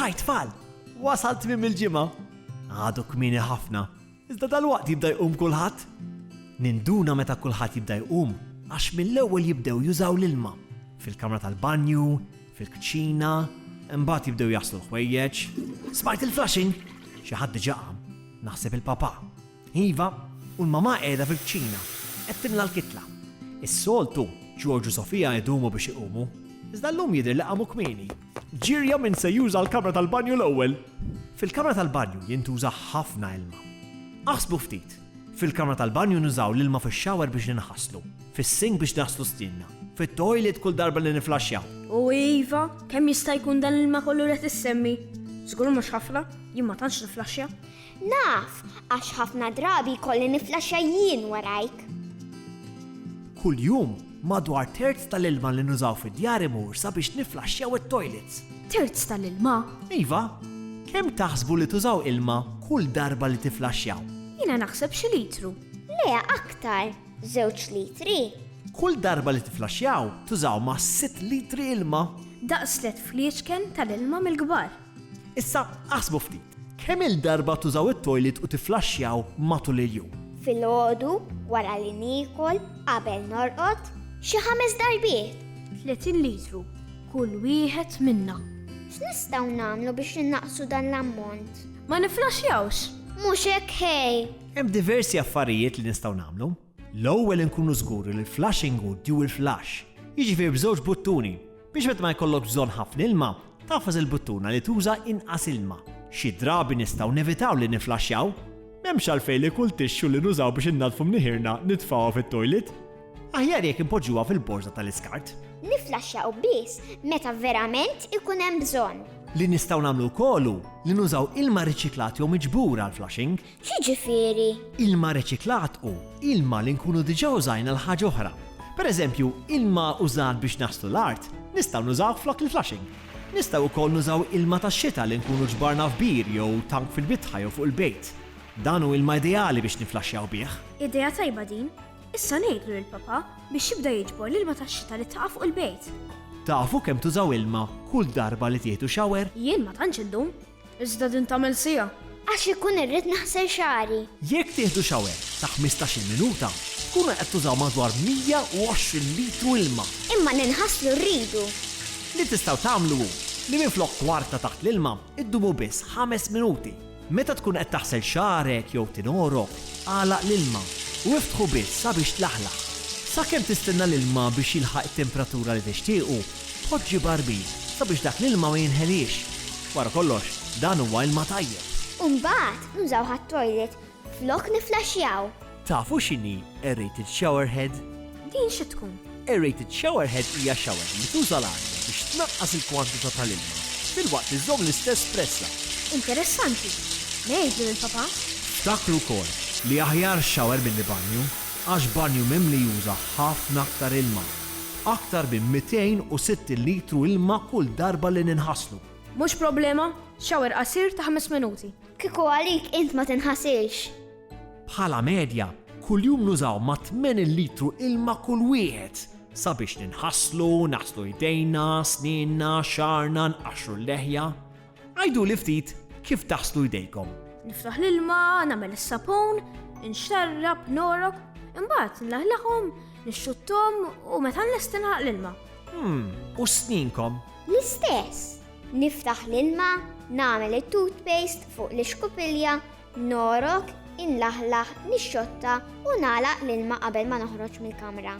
Hi tfal! Wasal tmiem il-ġimgħa. Għadu kmieni ħafna, iżda dalwaqt jibda jqum kulħadd. Ninduna meta kulħadd jibda jqum għax mill-ewwel jibdew jużaw l-ilma fil-kamra tal-banju, fil-kċina, imbagħad jibdew jaħslu l-ħwejjeġ. Smajt il-flushing! Xi ħadd diġà qam. Naħseb il-papà. Iva, u l-mamà qiegħda fil-kċina, qed timla l-kitla. Is-soltu, Ġorġ u Sofia idumu biex iqumu, iżda llum jidher li qamu kmieni. Ġirja min se juża l-kamra tal-banju l-ewwel! Fil-kamra tal-banju jintuża ħafna ilma. Aħsbu ftit, fil-kamra tal-banju nużaw l-ilma fix-shower biex ninħaslu, fis-sink biex naħslu stienna, fit-toilet kull darba li niflaxxjaw. O iva, kemm jista' jkun dan l-ilma kollu li qed issemmi? Żgur mhux ħafna, jien ma tantx niflaxxja. Naf, għax ħafna drabi jkolli niflaxxa jien warajk. Kuljum, madwar terz tal-ilma li nużaw fid-djar imur sabiex niflaxxjaw it-toilets. Terz tal-ilma? Iva. Kemm taħsbu li tużaw ilma kull darba li tiflaxxjaw? Jiena naħseb xi litru. Le, aktar. Żewġ litri. Kull darba li tiflaxxjaw, tużaw ma' sitt litri ilma. Daqs tliet fliexken tal-ilma mill-kbar. Issa aħsbu ftit, kemm-il darba tużaw it-toilet u tifflaxxjaw matul il-jum? Filgħodu, wara li niekol, qabel norqod, xi ħames darbiet. 30 litru kull wieħed minna. X'nistgħu nagħmlu biex innaqqsu dan l-ammont? Ma nifflaxxjawx! Mhux hekk ħej! Hemm diversi affarijiet li nistgħu nagħmlu. L-ewwel inkunu żguri li l-flushing hu dual flush, jiġifieri b'żewġ buttuni, biex meta ma jkollokx bżonn ħafna ilma, tagħfas il-buttuna li tuża inqas ilma. Xi drabi nistgħu nevitaw li niflaxxjaw. M'hemmx għalfejn li kull tixxu li nużaw biex innaddfu mniħirna nitfgħuha fit-toilet. Aħjar jekk inpoġġuha fil-borża tal-iskart. Niflaxxjaw biss meta verament ikun hemm bżonn. Li nistgħu nagħmlu wkoll hu li nużaw ilma riċiklat jew miġbur għall-flushing. X'jiġifieri? Ilma riċiklat hu ilma li nkunu diġà użajna għal ħaġa oħra. Per eżempju, ilma użat biex naħslu l-art, nistgħu nużawh flok il-flushing. Nistgħu wkoll nużaw ilma tax-xita li nkunu ġbarna f'bir jew tank fil-bitħa jew fuq il-bejt. Dan hu ilma ideali biex niflaxxjaw bih. Idea tajba din! Issa ngħidlu lill-Papa biex jibda jiġbor l-ilma tax-xita li taqa' fuq il-bejt. Tafu kemm tużaw ilma kull darba li tieħdu shower? Jien ma tantx indum. Iżda din tagħmel siegħa. Għax inkun irrid naħsel xagħri. Jekk tieħdu shower ta' ħmistax-il minuta, tkunu qed tużaw madwar 120 litru ilma. Imma li nħasslu rridu. Li tistgħu tagħmlu hu li minflok kwarta taħt l-ilma, iddumu biss ħames minuti. Meta tkun qed taħsel xagħrek jew tinorok, agħlaq l-ilma u iftħu biss sabiex tlaħlaħ. Sakemm tistenna l-ilma biex jilħaq it-temperatura li tixtiequ, Poġġi barbit sabiex dak l-ilma ma jinħeliex. Wara kollox, dan huwa ilma tajjeb. U mbagħad nużaw għat-toilet flok nifflaxxjaw. Tafu x'inhi aerated shower head? Din xi tkun? Aerated shower head hija xawer li tuża l-arja biex tnaqqas il-kwantità tal-ilma filwaqt li żżomm l-istess pressa. Interessanti. Ngħidlu lill-papà. Ftakru wkoll li aħjar xawer milli banju għax banju mimli juża ħafna aktar ilma. Aktar minn 260 litru ilma kull darba li ninħaslu. Mhux problema, shower qasir ta' ħames minuti. Kieku għalik int ma tinħasilx. Bħala medja, kuljum nużaw ma' 80 litru ilma kull wieħed sabiex ninħaslu, naħslu jdejna, snienna, xagħarna, nqaxxru l-leħja. Għiduli ftit kif taħslu jdejkom. Niftaħ l-ilma, nagħmel is-sapun, inxarrab, norok, imbagħad nlaħlaħhom, nixxuttom u meta nlesti naħaq l-ilma. Hmm, u sninkom? L-istess. Niftaħ l-ilma, nagħmel it-toothpaste fuq l-ixkupilja Ngħorok, inlaħlaħ, nixxotta u nagħlaq l-ilma qabel ma noħroġ mill-kamra.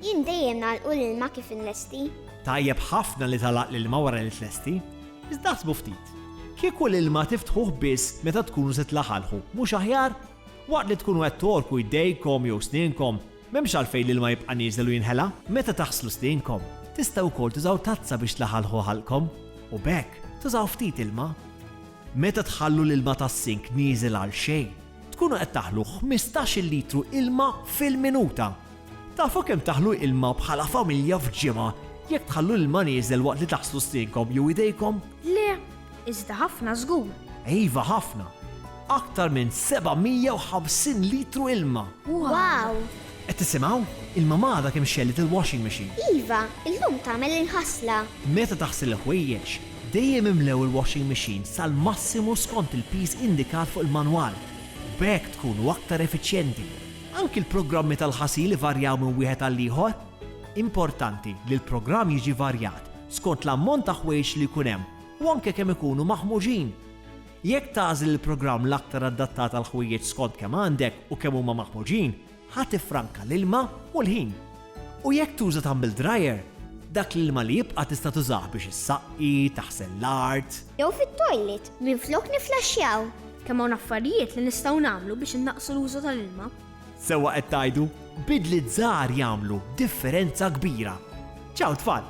Jien dejjem nagħlqu l-ilma kif inlesti. Tajjeb ħafna li tagħlaq l-ilma wara li tlesti. Iżda aħsbu ftit, kieku l-ilma tiftħuh biss meta tkunu se tlaħalħu, mhux aħjar? Waqt li tkunu qed tgħorku jdejkom jew snienkom, m'hemmx għalfejn l-ilma jibqa' nieżel u jinħela. Meta taħslu snienkom, tistgħu wkoll tużaw tazza biex tlaħalħu ħalqkom u b'hekk tużaw ftit ilma. Meta tħallu l-ilma tas-sink nieżel għal xejn, tkunu qed taħlu ħmistax-il litru ilma fil-minuta! Tafu kemm taħlu ilma bħala familja f'ġimgħa jekk tħallu l-ilma nieżel waqt li taħslu stinkom jew idejkom? Le, iżda ħafna żgur! Iva ħafna! Aktar minn 750 litru ilma! Wow! Qed tisimgħu? Il-mamà għadha kemm xegħlet il-washing machine. Iva, illum tagħmel il-ħasla. Meta taħsel il-ħwejjeġ, Dejjem imlew il-washing machine sal-massimu skont il-piż indikat fuq il-manwal, u b'hekk tkunu aktar effiċjenti. Anki l-programmi tal-ħasil ivarjaw minn wieħed għall-ieħor. Importanti li l-programm jiġi varjat skont l-ammont ta' ħwejjeġ li jkun hemm u anke kemm ikunu maħmuġin. Jekk tagħżel il-programm l-aktar addattat għall-ħwejjeġ skont kemm għandek u kemm huma maħmuġin, Ħa tiffranka l-ilma u l-ħin. U jekk tuża tumble dryer, dak l-ilma li jibqa' tista' tużah biex issaqqi, taħsel l-art. Jew fit-toilet minflok nifflaxxjaw. Kemm hawn affarijiet li nistgħu nagħmlu biex innaqqsu l-użu tal-ilma. Sewwa qed tgħidu, bidliet żgħar jagħmlu differenza kbira. Ċaw tfal!